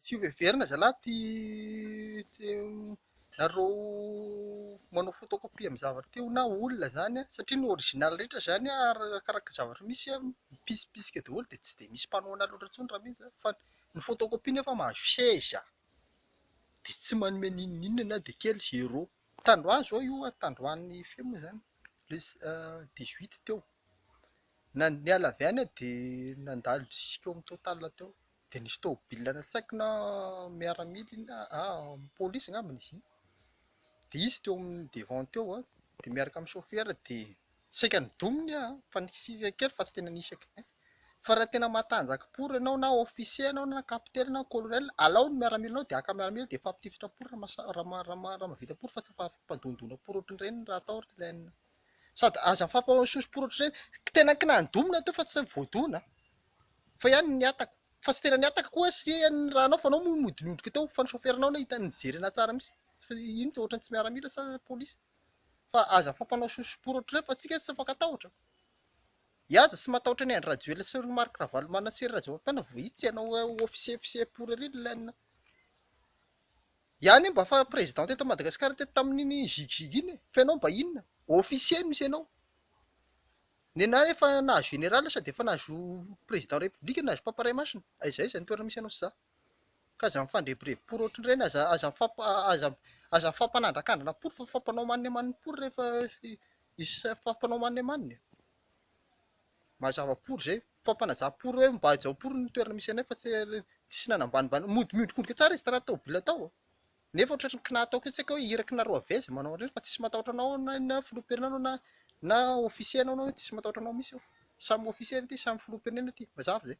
Tsy hoheverina zalahy ty tsy nareo manao photocopie amin'ny zavatra teo na olona zany an, satria ny original rehetra zany an arakaraka ny zavatra misy an mipisimpisika daholo dia tsy dia misy mpanao an'azy loatra intsony raha misy zany fa ny photocopie nefa mahazo seza. dia tsy manome n'inon'inona na dia kely, zéro. Tandroy izao io, tandroin'ny feo moa izany, plus dix huit teo. Na ny niala avy any aho dia nandalo jusqu'au amin'ny total teo. Dia nisy tômôbila natsaiko na miaramila iny na pôlisy angambany izy iny. Dia izy teo amin'ny devant teo dia miaraka amin'ny sôfera dia Saika nidominy aho fa nisy isak kely fa tsy tena nisy aky eh. Fa raha tena matanjaka pour ianao na officier ianao na capitaine ianao colonel alao ny miaramilanao dia haka miaramila dia hifampitifitra pour raha raha mahavita pour fa tsy fampandondona pour ohatran'ireny raha atao ry lainina a. Sady aza mifampahosihosy pour ohatran'ireny. Tena kina nidomina teo fa tsy voadona a. Fa ihany nihataka. Fa tsy tena nihataka koa aho sy ry ihany ny raha anao fa anao moa mody niondrika teo fa ny chauffeur-nao ilay hita nijery anahy tsara mihitsy. Fa iny tsy ohatran'ny tsy miaramila sa polisy. fa aza fampanao sosoporotro refa tsika tsy afaka tahotra iaza tsy matahotra ny Andry Rajoelina sy ny Marc Ravalomanana sy ry Rajaovam-piana vao itsy ianao officier officier pourri ry lainina iany mba fa president teto Madagascar teto tamin'iny zig zig iny fa ianao mba inona officier misy ianao nenah efa nahazo général sa dia efa nahazo président république nahazo mpampiray masina aiza aiza ny toerana misy ianao sy za Ka aza mifandrebireby pory ohatrin'ireny, aza aza aza aza mifampanandrakandrana pory fa mifampanao amaniny amaniny pory rehefa mifampanao amaniny amaniny e! Mazava pory izay, mifampanaja pory hoe mba hajao pory ny toerana misy anay fa tsy tsisy ny hanambanimbany, mody miondrikondrika tsara izy tena tômôbila tao e! nefa ohatran'ny kinaha ataoko io tsy haiko hoe iraky nareo avy aiza manao an'ireny fa tsisy matahotra anao na na filoham-pirenena anao na na ofisier anao na tsisy matahotra anao mihitsy eo, samy ofisier aty samy filoham-pirenena aty, mazava izay.